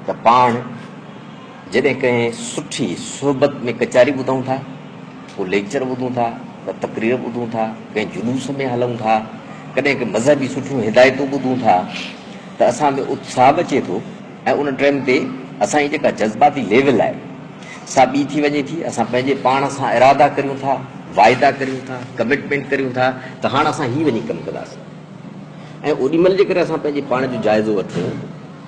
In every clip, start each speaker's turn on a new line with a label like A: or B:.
A: ته پاڻ جڏهن ڪنهن سٺي صحبت ۾ ڪچهري ٻڌون ٿا، ڪو ليڪچر ٻڌون ٿا، ڪا تقرير ٻڌون ٿا، ڪنهن جلوس ۾ هلون ٿا، ڪڏهن ڪي مذهبي سٺيون هدايتون ٻڌون ٿا ته اسان ۾ اتساهه به اچي ٿو ۽ ان ٽئم تي اسان جي جيڪا جذباتي ليول آهي سا ٻي ٿي وڃي ٿي، اسان پنهنجي پاڻ سان ارادا ڪريون ٿا، واعدا ڪريون ٿا، ڪمٽمينٽ ڪريون ٿا ته هاڻ اسان هي وڃي ڪم ڪنداسين. ۽ اوڏي مھل جيڪڏھن اسان پنھنجي پاڻ جو جائزو وٺون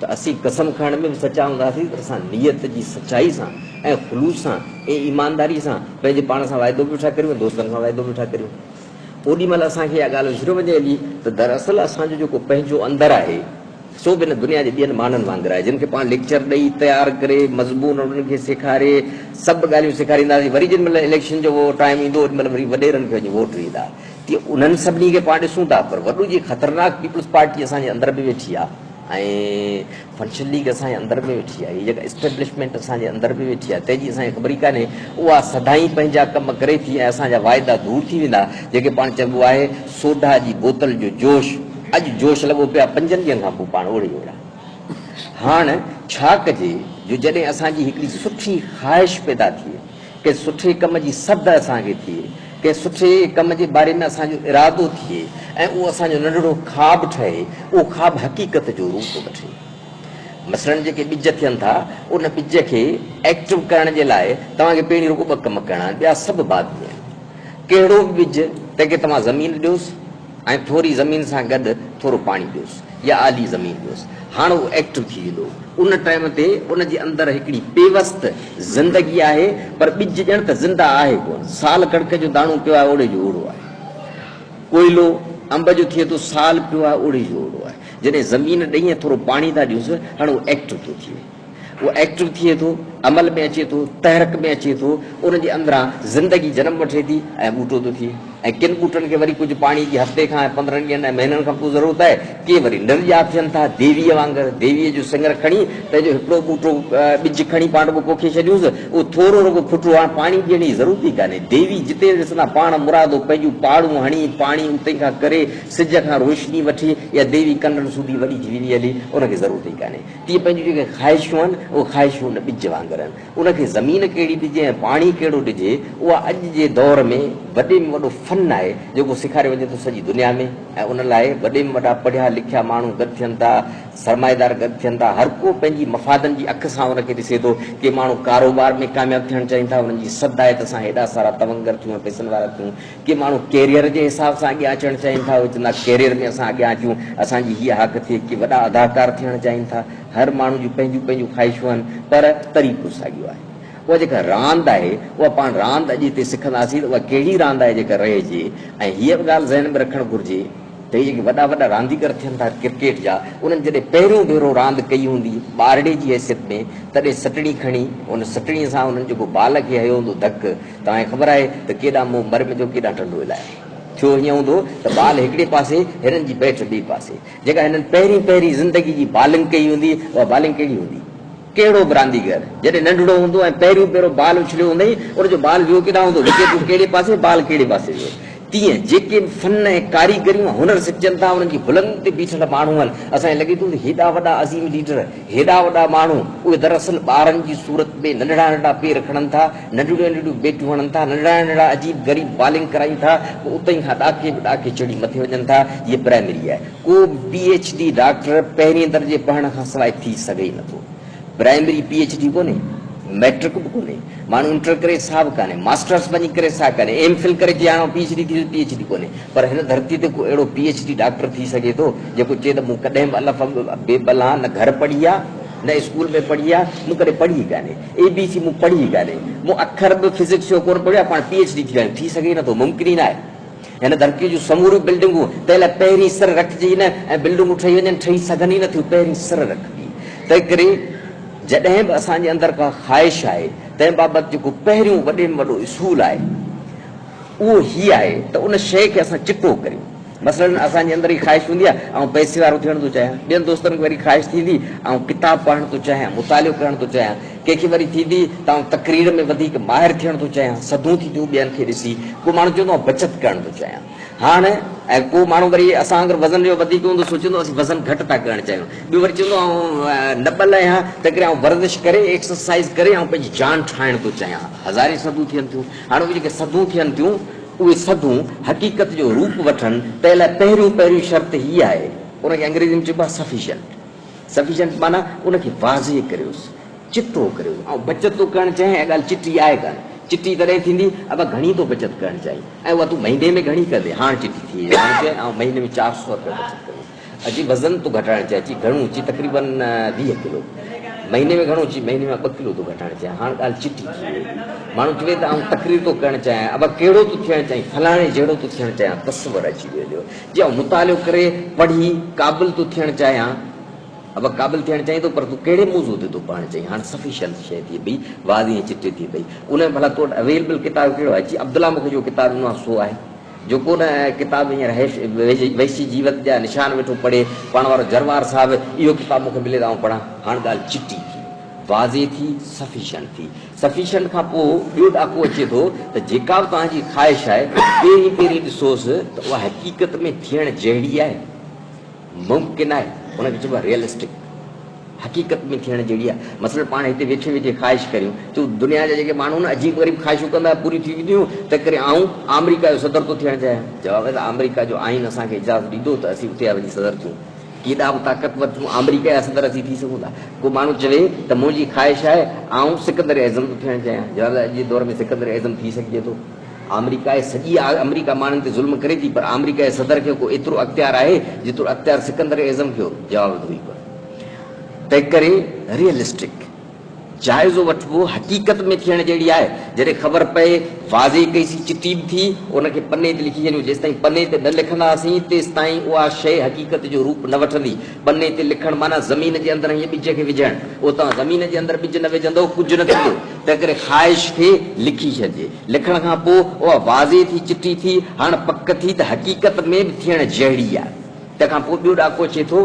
A: ته اسين قسم کڻڻ ۾ به سچا ھونداسين ته اسان نيت جي سچائي سان ۽ خلوص سان ۽ ايمانداري سان پنھنجي پاڻ سان وعدو به ويٺا ڪريون ۽ دوستن سان وعدو به ويٺا ڪريون اوڏي مھل اسان کي اھا ڳالھه وسريو وڃي ھلي ته دراصل اسان جو جيڪو پنھنجو اندر آھي سو به ھن دنيا جي ٻين ماڻھن وانگر آھي جن کي پاڻ ليڪچر ڏئي تيار ڪري مضمون انھن کي سيکاري سڀ ڳالھيون سيکارينداسين وري جنھن مھل اليڪشن جو ٽائيم ايندو اوڏي مھل وري وڏيرن کي وڃي ووٽ ڏيندا تي انهن سڀني کي پاڻ ڏسون ٿا پر وڏو جي خطرناڪ پيپلز پارٽي اسان جي اندر به ويٺي آهي ۽ فنشن ليگ اسان جي اندر به ويٺي آهي هي جيڪا اسٽيبلشمينٽ اسان جي اندر به ويٺي آهي تنهن جي اسان کي خبر ئي ڪانهي اها سدائين پنهنجا ڪم ڪري ٿي ۽ اسان جا واعدا ڌوڙ ٿي ويندا جيڪي پاڻ چئبو آهي سوڍا جي بوتل جو جوش اڄ جوش لڳو پيو آهي پنجن ڏينهن کان پوء پاڻ اوڙي اوڙا هاڻ ڇا ڪجي جو جڏهن اسان جي هڪڙي سٺي خواهش پيدا ٿئي ڪنهن سٺي ڪم جي سڌ اسان کي ٿئي، ڪنهن سٺي ڪم جي باري ۾ اسان جو ارادو ٿئي ۽ اهو اسان جو ننڍڙو خواب ٺهي، اهو خواب حقيقت جو روپ وٺي. مثلاً جيڪي ٻج ٿين ٿا، ان ٻج کي ايڪٽو ڪرڻ جي لاء توهان کي پهرين رڳو ٻه ڪم ڪرڻا آهن، ٻيا سڀ بعد ۾ آهن. ڪهڙو به ٻج، تنهن کي توهان زمين ڏيوس، ۽ ٿوري زمين سان گڏ ٿورو پاڻي ڏيوس يا آلي زمين ڏيوس هاڻ هو ايڪٽو ٿي ويندو ان ٽائيم تي ان جي اندر هڪڙي پيوست زندگي آهي پر ٻج ڄڻ ته زنده آهي ڪونه سال ڪڻڪ جو داڻو پيو آهي اوڙي جو اوڙو آهي ڪوئلو انب جو ٿئي ٿو سال پيو آهي اوڙي جو اوڙو آهي جڏهن زمين ڏهين ٿورو پاڻي ٿا ڏيوس هاڻ هو ايڪٽو ٿو ٿئي اهو ايڪٽو ٿئي ٿو، عمل ۾ اچي ٿو، تحرڪ ۾ اچي ٿو، ان جي اندران زندگي جنم وٺي ٿي ۽ ٻوٽو ٿو ٿئي ۽ ڪن ٻوٽن کي وري ڪجهه پاڻي جي هفتي کان ۽ پندرهن ڏينهن ۽ مهينن کان پوء ضرورت آهي، ڪي وري نرڄا ٿين ٿا، ديويء وانگر، ديويء جو سڱر کڻي تنهن جو هڪڙو ٻوٽو، ٻج، کڻي پاڻ رڳو پوکي ڇڏيونس، اهو ٿورو رڳو ڦٽو، هاڻ پاڻي ڏيڻ جي ضرورت ئي ڪانهي، ديوي جتي ڏسندا پاڻ مرادو پنهنجون پاڙون هڻي، پاڻي اتي کان ڪري، سج کان روشني وٺي يا ديوي ڪنڊن سوڌي وڏي ٿي ويندي هلي، ان کي ضرورت ئي ڪانهي. تيئن پنهنجون جيڪي خواهشون آهن، اهي خواهشون ان ٻج وانگر آهن. ان کي زمين ڪهڙي ڏجي ۽ پاڻي ڪهڙو ڏجي، اها اڄ جي دور ۾ وڏي ۾ وڏو فن آهي، جيڪو سيکاريو وڃي ٿو سڄي دنيا ۾ ۽ ان لاء وڏي ۾ وڏا پڙهيا لکيا ماڻهو گڏ ٿين ٿا، سرمائيدار گڏ ٿين ٿا، هر ڪو پنهنجي مفادن جي اک سان ان کي ڏسي ٿو. ڪي ماڻهو ڪاروبار ۾ ڪامياب ٿيڻ چاهين ٿا، انهن جي سد آهي ته اسان هيڏا سارا تونگر ٿيون ۽ پئسن وارا ٿيون، ڪي ماڻهو ڪيريئر جي حساب سان اڳيان اچڻ چاهين ٿا اهي چون ٿا ڪيريئر ۾ اسان اڳيان اچون اسان جي هيء هاڪ ٿئي ڪي وڏا اداڪار ٿيڻ چاهين ٿا هر ماڻهو جون پنهنجون پنهنجون خواهشون آهن پر طريقو ساڳيو آهي اها جيڪا راند آهي اها پاڻ راند اڄ هتي سکنداسين ته اها ڪهڙي راند آهي جيڪا رهجي ۽ هيء به ڳالهه ذهن ۾ رکڻ گهرجي ته هي جيڪي وڏا وڏا رانديگر ٿين ٿا ڪرڪيٽ جا، انهن جڏهن پهريون ڀيرو راند ڪئي هوندي ٻارڙي جي حيثيت ۾ تڏهن سٽڻي کڻي ان سٽڻي سان انهن جيڪو بال کي هنيو هوندو ڌڪ توهان کي خبر آهي ته ڪيڏا مون مرمي جو ڪيڏا ٽنڊو علائقو ٿيو هيئن هوندو ته بال هڪڙي پاسي هنن جي بيٽ ٻئي پاسي جيڪا هنن پهرين پهرين زندگي جي بالنگ ڪئي هوندي اها بالنگ ڪهڙي هوندي. ڪهڙو به رانديگر جڏهن ننڍڙو هوندو ۽ پهريون ڀيرو بال اڇليو هوندئي، ان جو بال ويو ڪيڏانهن هوندو، وڪيٽون ڪهڙي پاسي، بال ڪهڙي پاسي ويو. تيئن جيڪي به فن ۽ ڪاريگريون ۽ هنر سکجن ٿا، انهن جي بلندين تي بيٺل ماڻهو آهن. اسان کي لڳي ٿو ته هيڏا وڏا عظيم ليڊر، هيڏا وڏا ماڻهو، اهي دراصل ٻارن جي صورت ۾ ننڍڙا ننڍڙا پير کڻن ٿا، ننڍڙيون ننڍڙيون بيٽون هڻن ٿا، ننڍڙا ننڍڙا عجيب غريب بالنگ ڪرائين ٿا، پوء اتهين کان ڏاڪي به ڏاڪي چڙهي مٿي وڃن ٿا. هيء پرائمري آهي. ڪو به پي ايڇ ڊي ڊاڪٽر پهرين درجي پڙهڻ کان سواء ٿي سگهي ئي نٿو. پرائمري پي ايڇ ڊي ڪونهي، مئٽرڪ به ڪونهي، ماڻهو انٽر ڪري ڇا به ڪانهي، ماسٽرس وڃي ڪري ڇا ڪانهي، ايم فل ڪري جي هاڻو پي ايڇ ڊي ٿيندس، پي ايڇ ڊي ڪونهي. پر هن ڌرتي تي ڪو اهڙو پي ايڇ ڊي ڊاڪٽر ٿي سگهي ٿو، جيڪو چئي ته مون ڪڏهن به الف بي بلان نه گهر پڙهي آ، نه اسڪول ۾ پڙهي آ، مون ڪڏهن پڙهي ئي ڪانهي، اي بي سي مون پڙهي ئي ڪانهي، مون اکر به فزڪس جو ڪونه پڙهيو آ، پاڻ پي ايڇ ڊي ٿي ويا آهيون. ٿي سگهي ئي نٿو، ممڪن ئي ناهي. هن ڌرتيء جون سموريون بلڊنگون تنهن لاء پهرين سر رکجي ئي نه ۽ بلڊنگون ٺهي وڃن، ٺهي سگهن ئي نه ٿيون، پهرين سر رکبي. تنهنڪري جڏهن به اسان جي اندر ڪا خواهش آهي، تنهن بابت جيڪو پهريون وڏي ۾ وڏو اصول آهي، اهو هي آهي ته ان شيء کي اسان چٽو ڪريون. مثلاً اسان جي اندر هي خواهش هوندي آهي، آئون پئسي وارو ٿيڻ ٿو چاهيان. ٻين دوستن کي وري خواهش ٿيندي، آئون ڪتاب پڙهڻ ٿو چاهيان، مطالعو ڪرڻ ٿو چاهيان. ڪنهن کي وري ٿيندي ته آئون تقرير ۾ وڌيڪ ماهر ٿيڻ ٿو چاهيان، سڌو ٿي ٿيون ٻين کي ڏسي، ڪو ماڻهو چوندو آئون بچت ڪرڻ ٿو چاهيان هاڻ ۽ ڪو ماڻهو وري اسان وانگر وزن جو وڌيڪ هوندو سوچيندو اسين وزن گهٽ ٿا ڪرڻ چاهيون، ٻيو وري چوندو آئون نٻل آهيان تنهنڪري آئون ورزش ڪري ايڪسرسائيز ڪري آئون پنهنجي جان ٺاهڻ ٿو چاهيان، هزارين سڌون ٿين ٿيون، هاڻ اهي جيڪي سڌون ٿين ٿيون اهي سڌون حقيقت جو روپ وٺن تنهن لاء پهريون پهريون شرط هي آهي ان کي انگريزي ۾ چئبو آهي Sufficient. Sufficient معنيٰ ان کي واضح ڪريوس، چٽو ڪريو. آئون بچت ٿو ڪرڻ چاهيان، اها ڳالهه چٽي آهي ڪانه. چٽي تڏهن ٿيندي، ابا گهڻي ٿو بچت ڪرڻ چاهين ۽ اها تون مهيني ۾ گهڻي ڪندين. هاڻ چٽي ٿي وئي. هاڻ چئه، آئون مهيني ۾ چار سؤ رپيا بچت ڪندس. اچي وزن ٿو گهٽائڻ چاهين. چي گهڻو؟ چي تقريبن ويهه ڪلو. مهيني ۾ گهڻو؟ چي مهيني مان ٻه ڪلو ٿو گهٽائڻ چاهيان. هاڻ ڳالهه چٽي ٿي وئي. ماڻهو چوي ته آئون تقرير ٿو ڪرڻ چاهيان، ابا ڪهڙو ٿو ٿيڻ چاهين؟ فلاڻي جهڙو ٿو ٿيڻ چاهيان. تصور اچي ويو جو. جي آئون مطالعو ڪري پڙهي قابل ٿو ٿيڻ چاهيان. ابا قابل ٿيڻ چاهين ٿو پر تون ڪهڙي موضوع تي ٿو پڙهڻ چاهين؟ هاڻ سفيشنٽ شيء ٿئي پئي، واضح ۽ چٽي ٿئي پئي. ان ۾ ڀلا تو وٽ اويلبل ڪتاب ڪهڙو آهي؟ جي عبدالله مون کي جو ڪتاب ڏنو آهي سو آهي. جو ڪو نه ڪتاب هينئر وحشي جيوت جا نشان ويٺو پڙهي، پاڻ وارو جروار صاحب، اهو ڪتاب مون کي ملي ته آئون پڙهان. هاڻ ڳالهه چٽي ٿي، واضح ٿي، سفيشنٽ ٿي. Sufficient کان پوء ٻيو ڏاڪو اچي ٿو ته جيڪا به توهان جي خواهش آهي، پهرين پهرين ڏسوس ته اها حقيقت ۾ ٿيڻ جهڙي آهي، ممڪن آهي، ان کي چئبو آهي Realistic. حقيقت ۾ ٿيڻ جهڙي آهي. مثلاً پاڻ هتي ويٺي ويٺي خواهش ڪريون ٿيون، دنيا جا جيڪي ماڻهو نه عجيب غريب خواهشون ڪندا آهن، پوريون ٿي وينديون، تنهن ڪري آئون آمريڪا جو صدر ٿو ٿيڻ چاهيان. جواب آهي ته آمريڪا جو آئين اسان کي اجازت ڏيندو ته اسين اتي ها وڃي صدر ٿيون. ڪيڏا به طاقتور ٿيون، آمريڪا جا صدر اسين ٿي سگهون ٿا. ڪو ماڻهو چوي ته منهنجي خواهش آهي آئون سڪندر اعظم ٿو ٿيڻ چاهيان. جواب، اڄ جي دور ۾ سڪندر اعظم ٿي سگهجي ٿو. آمريڪا جي سڄي آمريڪا ماڻهن تي ظلم ڪري ٿي پر آمريڪا جي صدر کي ڪو ايترو اختيار آهي جيترو اختيار سڪندر اعظم کي هو. جواب، اهو ئي ڪو تنهنڪري ريئلسٽڪ. جائزو وٺبو حقيقت ۾ ٿيڻ جهڙي آهي جڏهن خبر پئي واضح ڪئي سي چٽي به ٿي ان کي پني تي لکي ڇڏيون جيستائين پني تي نه لکنداسين تيستائين اها شيء حقيقت جو روپ نه وٺندي پني تي لکڻ معنيٰ زمين جي اندر هينئن ٻج کي وجهڻ اهو توهان زمين جي اندر ٻج نه وجهندو ڪجهه نه ٿيندو تنهنڪري خواهش کي لکي ڇڏجي لکڻ کان پوء اها واضح ٿي چٽي ٿي هاڻ پڪ ٿي ته حقيقت ۾ به ٿيڻ جهڙي آهي تنهن کان پوء ٻيو ڏاڪو اچي ٿو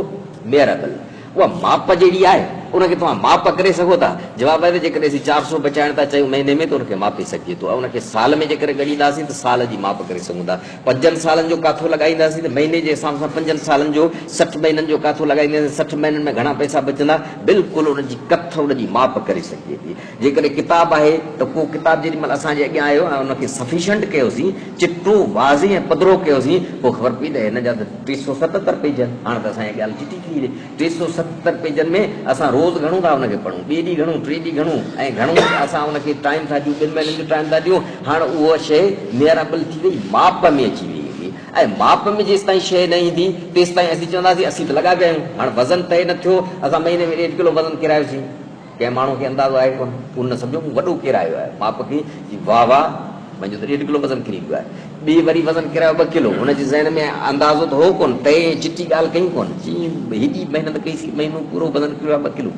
A: ميرابل اها ماپ جهڙي آهي، ان کي توهان ماپ ڪري سگهو ٿا؟ جواب آهي ته جيڪڏهن اسين چار سو بچائڻ ٿا چاهيون مهيني ۾ ته ان کي ماپي سگهجي ٿو ۽ ان کي سال ۾ جيڪڏهن ڳڻينداسين ته سال جي ماپ ڪري سگهون ٿا. پنجن سالن جو ڪاٿو لڳائينداسين ته مهيني جي حساب سان پنجن سالن جو سٺ مهينن جو ڪاٿو لڳائينداسين ته سٺ مهينن ۾ گهڻا پئسا بچندا. بلڪل ان جي ڪٿ ان جي ماپ ڪري سگهجي ٿي. جيڪڏهن ڪتاب آهي ته ڪو ڪتاب جيڏي مهل اسان جي اڳيان آيو ۽ ان کي سفيشنٽ ڪيوسين، چٽو، واضح ۽ پڌرو ڪيوسين، پوء خبر پئي ته هن جا ته ٽي سؤ ستتر پيج آهن. هاڻ ته اسان جي ڳالهه چٽي ٿي وڃي. ٽي سؤ ستتر پيجن ۾ اسان روز گهڻو ٿا ان کي پڙهون، ٻئي ڏينهن گهڻو، ٽئي ڏينهن گهڻو ۽ گهڻو اسان ان کي ٽائيم ٿا ڏيون، ٻن مهينن جو ٽائيم ٿا ڏيون. هاڻ اها شيء ميئرابل ٿي وئي، ماپ ۾ اچي ويئي هئي ۽ ماپ ۾ جيستائين شيء نه ايندي، تيستائين اسين چونداسين اسين ته لڳا پيا آهيون. هاڻ وزن طئي نه ٿيو، اسان مهيني ۾ ڏيڍ ڪلو وزن ڪيرايوسين. ڪنهن ماڻهوء کي اندازو آهي ڪونه. ان نه سمجهيو مون وڏو ڪيرايو آهي. ماء پٽي جي واهه واهه. منهنجو ته ڏيڍ ڪلو وزن ڪري ويو آهي. ٻيء وري وزن ڪيرايو ٻه ڪلو. هن جي ذهن ۾ اندازو ته هو ڪونه. تئي ائين چٽي ڳالهه ڪيئي ڪونه. چيائين هيڏي محنت ڪئي سين مهينو پورو وزن ڪريو آهي ٻه ڪلو.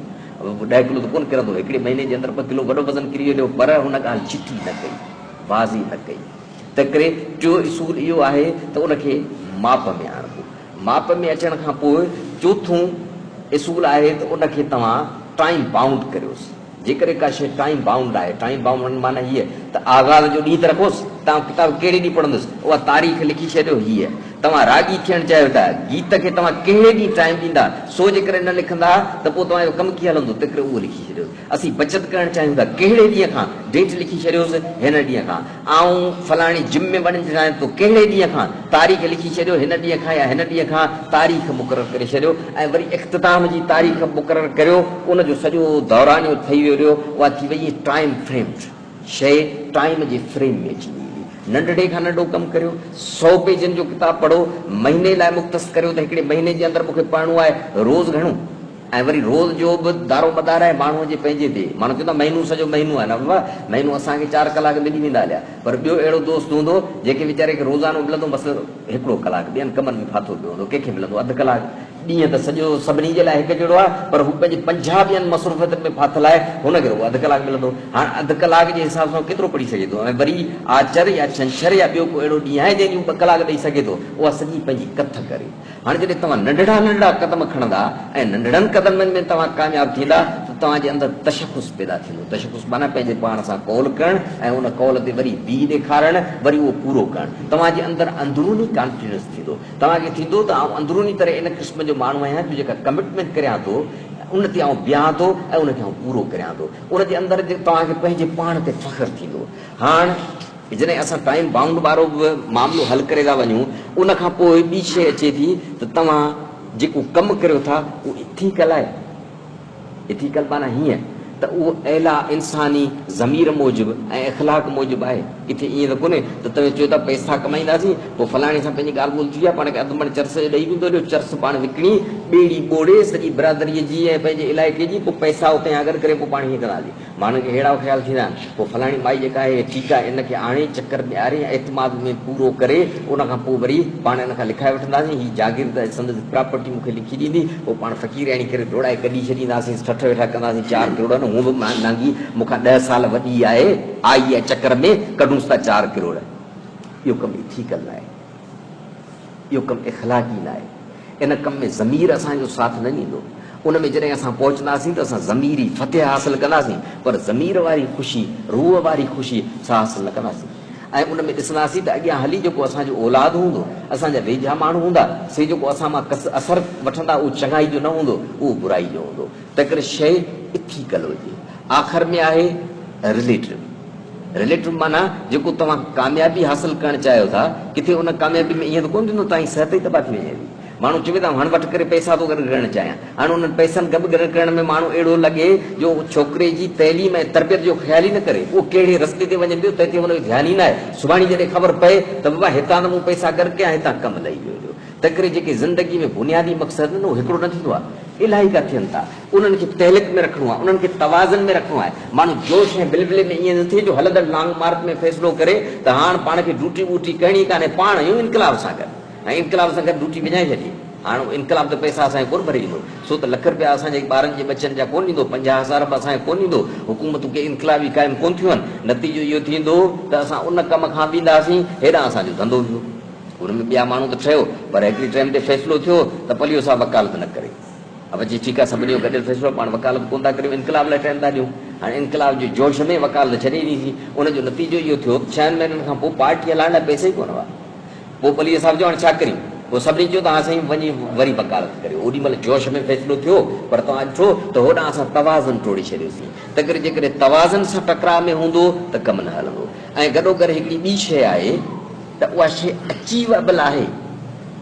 A: ڏهه ڪلو ته ڪونه ڪرندو. هڪڙي مهيني جي اندر ٻه ڪلو وڏو وزن ڪري هليو. پر هن ڳالهه چٽي نه ڪئي. بازي نه ڪئي. تنهنڪري ٽيو اصول اهو آهي ته ان کي ماپ ۾ آڻبو. ماپ ۾ اچڻ کان پوء چوٿون اصول آهي ته ان کي توهان ٽائيم بائونڊ ڪريوس. جيڪڏهن ڪا شيء ٽائيم بائونڊ آهي، ٽائيم بائونڊ معنيٰ هيء ته آغاز جو ڏينهن ته رکوس، توهان ڪتاب ڪهڙي ڏينهن پڙهندس، اها تاريخ لکي ڇڏيو، هيء توهان راڳي ٿيڻ چاهيو ٿا، گيت کي توهان ڪهڙي ڏينهن ٽائيم ڏيندا، سو جيڪڏهن نه لکندا ته پوء توهان جو ڪم ڪيئن هلندو، تنهنڪري اهو لکي ڇڏيوس. اسين بچت ڪرڻ چاهيون ٿا، ڪهڙي ڏينهن کان ڊيٽ لکي ڇڏيوس، هن ڏينهن کان. آئون فلاڻي جم ۾ وڃڻ چاهيان ٿو، ڪهڙي ڏينهن کان؟ تاريخ لکي ڇڏيو، هن ڏينهن کان يا هن ڏينهن کان تاريخ مقرر ڪري ڇڏيو ۽ وري اختتام جي تاريخ مقرر ڪريو، ان جو سڄو دورانيو ٺهي ويريو، اها ٿي ويئي ٽائيم فريمڊ شيء، ٽائيم جي فريم ۾ اچي ويئي. ننڍڙي کان ننڍو ڪم ڪريو، سؤ پيجن جو ڪتاب پڙهو، مهيني لاء مختص ڪريو ته هڪڙي مهيني جي اندر مون کي پڙهڻو آهي، روز گهڻو. ۽ وري روز جو به دارومدار آهي ماڻهوء جي پنهنجي تي. ماڻهو چوندا مهينو سڄو مهينو آهي. نه بابا، مهينو اسان کي چار ڪلاڪ ملي ويندا هليا، پر ٻيو اهڙو دوست هوندو، جنهن کي ويچاري کي روزانو ملندو بس هڪڙو ڪلاڪ، ٻين ڪمن ۾ ڦاٿو پيو هوندو، ڪنهن کي ملندو اڌ ڪلاڪ. ڏينهن ته سڄو سڀني جي لاء هڪ جهڙو آهي، پر هو پنهنجي پنجاهه ٻين مصروفيتن ۾ ڦاٿل آهي، هن کي رڳو اڌ ڪلاڪ ملندو. هاڻ اڌ ڪلاڪ جي حساب سان هو ڪيترو پڙهي سگهي ٿو؟ ۽ وري آچر يا ڇنڇر يا ٻيو ڪو اهڙو ڏينهن آهي، جنهن جي هو ٻه ڪلاڪ ڏئي سگهي ٿو، اها سڄي پنهنجي ڪٿ ڪري. هاڻ جڏهن توهان ننڍڙا ننڍڙا قدم کڻندا ۽ ننڍڙن قدمن ۾ توهان ڪامياب ٿيندا ته توهان جي اندر تشخص پيدا ٿيندو. تشخص معنيٰ پنهنجي پاڻ سان قول ڪرڻ ۽ ان قول تي وري بيهي ڏيکارڻ وري اهو پورو ڪرڻ. توهان جي اندر اندروني ڪانفيڊنس ٿيندو. توهان کي ٿيندو ته آئون اندروني طرح ان قسم جو ماڻهو آهيان جو جيڪا ڪمٽمينٽ ڪريان ٿو ان تي آئون بيهان ٿو ۽ ان کي آئون پورو ڪريان ٿو. ان جي اندر توهان کي پنهنجي پاڻ تي فخر ٿيندو. هاڻ. جڏهن اسان ٽائيم بائونڊ وارو به معاملو حل ڪري ٿا وڃون ان کان پوء ٻي شيء اچي ٿي ته توهان جيڪو ڪم ڪريو ٿا اهو ايٿيڪل آهي؟ ايٿيڪل معنيٰ هيئن ته اهو اعليٰ انساني ضمير موجب ۽ اخلاق موجب آهي. ڪٿي ائين ته ڪونهي ته توهين چئو ٿا پئسا ڪمائينداسين پوء فلاڻي سان پنهنجي ڳالهه ٻولهه ٿي آهي پاڻ کي اڌ مڻ چرس جو ڏئي ويندو هليو چرس پاڻ وڪڻي ٻيڙي ٻوڙي سڄي برادريء جي ۽ پنهنجي علائقي جي پوء پئسا اتيان گڏ ڪري پوء پاڻ هيئن ڪنداسين. ماڻهن کي اهڙا خيال ٿيندا آهن، پوء فلاڻي مائي جيڪا آهي، ٺيڪ آهي، ان کي آڻي، چڪر ڏياري ۽ اعتماد ۾ پورو ڪري، ان کان پوء وري پاڻ ان کان لکائي وٺنداسين، هي جاگير ته سندس پراپرٽي مون کي لکي ڏيندي، پوء پاڻ فقيرياڻي ڪري ڊوڙائي گڏي ڇڏينداسين، ٺٺ ويٺا ڪنداسين، چار ڪروڙ نه، هونء به مهانگي مون کان ڏهه سال وڏي آهي، آئي آهي چڪر ۾، ڪڍونس ٿا چار ڪروڙ، اهو ڪم ئي ٺيڪ نه آهي. اهو ڪم اخلاقي ناهي. ان ڪم ۾ ضمير اسان جو ساٿ نه ڏيندو. ان ۾ جڏهن اسان پهچنداسين ته اسان ضميري فتح حاصل ڪنداسين پر ضمير واري خوشي، روح واري خوشي سا حاصل نه ڪنداسين ۽ ان ۾ ڏسنداسين ته اڳيان هلي جيڪو اسان جو اولاد هوندو، اسان جا ويجها ماڻهو هوندا، سي جيڪو اسان مان اثر وٺندا اهو چڱائي جو نه هوندو، اهو برائي جو هوندو. تنهنڪري شيء اٿيڪل هجي. آخر ۾ آهي Relative. Relative معنيٰ جيڪو توهان ڪاميابي حاصل ڪرڻ چاهيو ٿا، ڪٿي ان ڪاميابي ۾ ائين ته ڪونه ٿيندو توهانجي صحت ئي تباهه ٿي وڃي ٿي. ماڻهو چوي ته آئون هاڻ وٺ ڪري پئسا ٿو گڏ ڪرڻ چاهيان. هاڻ انهن پئسن گڏ ڪرڻ ۾ ماڻهو اهڙو لڳي جو ڇوڪري جي تعليم ۽ تربيت جو خيال ئي نه ڪري. اهو ڪهڙي رستي تي وڃي پيو تنهن تي ان جو ڌيان ئي نه آهي. سڀاڻي جڏهن خبر پئي ته بابا هتان ته مون پئسا گڏ ڪيا هتان ڪم لهي ويو جو. تنهنڪري جيڪي زندگي ۾ بنيادي مقصد آهن اهو هڪڙو نه ٿيندو آهي. الائي ڪا ٿين ٿا. انهن کي تهلڪ ۾ رکڻو آهي، انهن کي توازن ۾ رکڻو آهي. ماڻهو جوش ۽ بلبلي ۾ ائين نه ٿئي جو هلندڙ لانگ مارچ ۾ فيصلو ڪري ته هاڻ پاڻ کي ڊوٽي ٻوٽي ڪرڻي ڪانهي، پاڻ آهيون انقلاب سان گڏ ۽ انقلاب سان گڏ ڊوٽي وڃائي ڇڏي. هاڻ انقلاب ته پئسا اسان کي ڪونه ڀري ڏيندو، سو ته لک رپيا اسان جي ٻارن جي ٻچن جا ڪونه ڏيندو، پنجاهه هزار به اسان کي ڪونه ڏيندو، حڪومتون ڪي انقلابي قائم ڪونه ٿيون هن، نتيجو اهو ٿيندو ته اسان ان ڪم کان وينداسين هيڏانهن اسان جو ڌنڌو ويو. ان ۾ ٻيا ماڻهو ته ٺهيو پر هڪڙي ٽئم تي فيصلو ٿيو ته پليو صاحب وڪالت نه ڪري. ابا چيو ٺيڪ آهي سڀني جو گڏيل فيصلو پاڻ وڪالت ڪونه ٿا ڪريون انقلاب لاء ٽرين ٿا ڏيون هاڻي انقلاب جي جوش ۾ وڪالت ڇڏي ڏني سين ان جو نتيجو اهو ٿيو ته ڇهن مهينن کان پوء پارٽي هلائڻ لاء پئسا ئي ڪونه هئا پوء پليجي صاحب چيو هاڻي ڇا ڪريون پوء سڀني چيو ته هان سائين وڃي وري وڪالت ڪريو اوڏي مهل جوش ۾ فيصلو ٿيو پر توهان ڏٺو ته هوڏانهن اسان توازن ٽوڙي ڇڏيوسين تنهنڪري جيڪڏهن توازن سان ٽڪراء ۾ هوندو ته ڪم نه هلندو ۽ گڏوگڏ هڪڙي ٻي شيء آهي ته اها شيء اچيوئبل آهي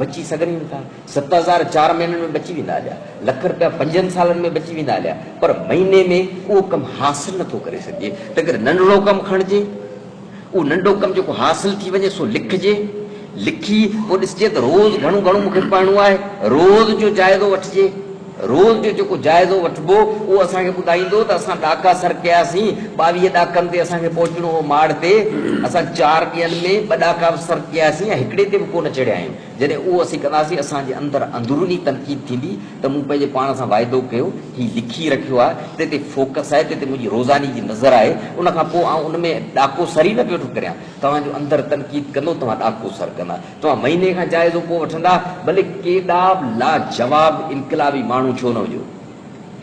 A: بچي سگهن ئي نٿا. ست هزار چار مهينن ۾ بچي ويندا هليا. لک رپيا پنجن سالن ۾ بچي ويندا هليا. پر مهيني ۾ اهو ڪم حاصل نٿو ڪري سگهجي. تنهنڪري ننڍڙو ڪم کڻجي. اهو ننڍو ڪم جيڪو حاصل ٿي وڃي سو لکجي. لکي پوء ڏسجي ته روز گهڻو گهڻو مون کي پڙهڻو آهي. روز جو جائزو وٺجي. رول جو جيڪو جائزو وٺبو اهو اسان کي ٻڌائيندو ته اسان ڏاڪا سر ڪياسين، ٻاويهه ڏاڪن تي اسان کي پهچڻو هو ماڙ تي، اسان چار ڏينهن ۾ ٻه ڏاڪا به سر ڪياسين ۽ هڪڙي تي به ڪونه چڙهيا آهيون، جڏهن اهو اسين ڪنداسين اسان جي اندر اندروني تنقيد ٿيندي ته مون پنهنجي پاڻ سان واعدو ڪيو، هي لکي رکيو آهي، تنهن تي فوڪس آهي، تنهن تي منهنجي روزاني جي نظر آهي، ان کان پوء آئون ان ۾ ڏاڪو سر ئي نه پيو ٿو ڪريان، توهان جو اندر تنقيد ڪندو توهان ڏاڪو سر ڪندا. توهان مهيني کان جائزو ڪو وٺندا، ڀلي ڪيڏا به لاجواب انقلابي ماڻهو ڇو نه هجو.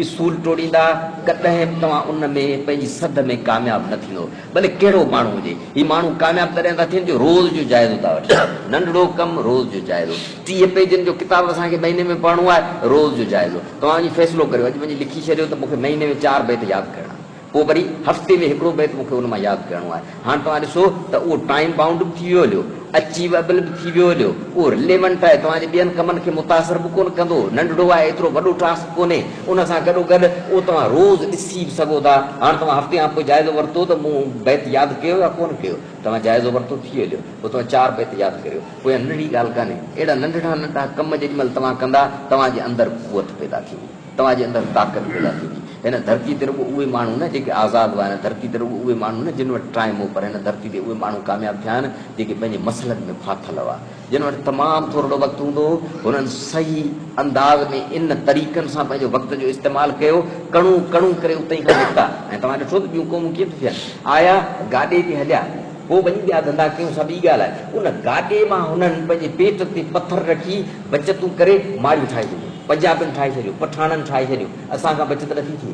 A: اصول ٽوڙيندا، ڪڏهن به توهان ان ۾ پنهنجي سڌ ۾ ڪامياب نه ٿيندو، ڀلي ڪهڙو به ماڻهو هجي. هي ماڻهو ڪامياب تڏهن ٿا ٿين، جو روز جو جائزو ٿا وٺن. ننڍڙو ڪم، روز جو جائزو. ٽيهه پيجن جو ڪتاب اسان کي مهيني ۾ پڙهڻو آهي، روز جو جائزو. توهان وڃي فيصلو ڪريو، اڄ وڃي لکي ڇڏيو ته مون کي مهيني ۾ چار بيت ياد ڪرڻا. پوء وري هفتي ۾ هڪڙو بيت مون کي ان مان ياد ڪرڻو آهي. هاڻ توهان ڏسو ته اهو ٽائيم بائونڊ به ٿي ويو هليو، اچيوئبل به ٿي ويو هليو، اهو رليونٽ آهي، توهان جي ٻين ڪمن کي متاثر به ڪونه ڪندو، ننڍڙو آهي، ايترو وڏو ٽاسڪ ڪونهي، ان سان گڏوگڏ اهو توهان روز ڏسي به سگهو ٿا. هاڻ توهان هفتي کان پوء جائزو ورتو ته مون بيت ياد ڪيو يا ڪونه ڪيو، توهان جائزو ورتو ٿي هليو، پوء توهان چار بيت ياد ڪريو، پوء اها ننڍڙي ڳالهه ڪانهي، اهڙا ننڍڙا ننڍڙا ڪم جيڏي مهل توهان ڪندا، توهان جي اندر قوت پيدا ٿيندي. توهان جي اندر طاقت پيدا ٿيندي. هن ڌرتي تي رڳو اهي ماڻهو نه جيڪي آزاد هئا، هن ڌرتي تي رڳو اهي ماڻهو نه جن وٽ ٽائيم هو، پر هن ڌرتي تي اهي ماڻهو ڪامياب ٿيا آهن جيڪي پنهنجي مسئلن ۾ ڦاٿل هئا. جن وٽ تمام ٿورڙو وقت هوندو هو، هنن صحيح انداز ۾ ان طريقن سان پنهنجو وقت جو استعمال ڪيو، ڪڻو ڪڻو ڪري اتي ئي کان نڪتا ۽ توهان ڏٺو ته ٻيون قومون ڪيئن ٿيون ٿين. آيا گاڏي تي هليا. پوء وڃي ٻيا ڌنڌا ڪيون سا ٻي ڳالهه آهي. ان گاڏي مان هنن پنهنجي پيٽ تي پٿر رکي بچتون ڪري ماڙيون ٺاهي ڇڏيون. پنجابين ٺاهي ڇڏيون، پٺاڻن ٺاهي ڇڏيون، اسان کان بچت نٿي ٿئي.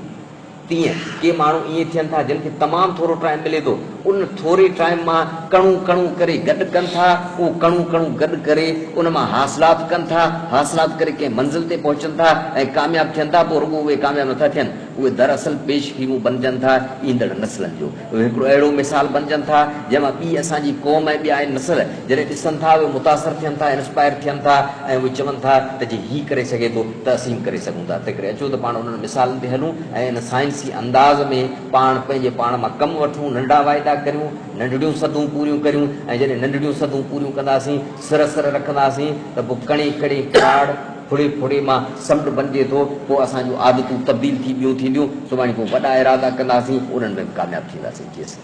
A: تيئن ڪي ماڻهو ائين ٿين ٿا جن کي تمام ٿورو ٽائيم ملي ٿو. ان ٿوري ٽائيم مان ڪڻو ڪڻو ڪري گڏ ڪن ٿا. اهو ڪڻو ڪڻو گڏ ڪري ان مان حاصلات ڪن ٿا. حاصلات ڪري ڪنهن منزل تي پهچن ٿا ۽ ڪامياب ٿين ٿا. پوء رڳو اهي ڪامياب نٿا ٿين. اهي دراصل پيش خيمو بنجن ٿا ايندڙ نسلن جو. اهي هڪڙو اهڙو مثال بنجن ٿا جنهن مان ٻي اسان جي قوم ۽ ٻيا نسل جڏهن ڏسن ٿا اهي متاثر ٿين ٿا انسپائر ٿين ٿا ۽ اهي چون ٿا ته جي هي ڪري سگهي ٿو ته اسين به ڪري سگهون ٿا تنهنڪري اچو ته پاڻ انهن مثالن تي هلون ۽ ان سائنسي انداز ۾ پاڻ پنهنجي پاڻ مان ڪم وٺون ننڍا واعدا ڪريون ننڍڙيون سڌون پوريون ڪريون ۽ جڏهن ننڍڙيون سڌون پوريون ڪنداسين سر سر رکنداسين ته پوء ڪڻي ڪڙي ڪراڙ ٿوري ٿوري مان سمنڊ بنجي ٿو، پوء اسان جون عادتون تبديل ٿي ٻيون ٿينديون، سڀاڻي ڪو وڏا ارادا ڪنداسين، انهن ۾ به ڪامياب ٿينداسين. جي سان.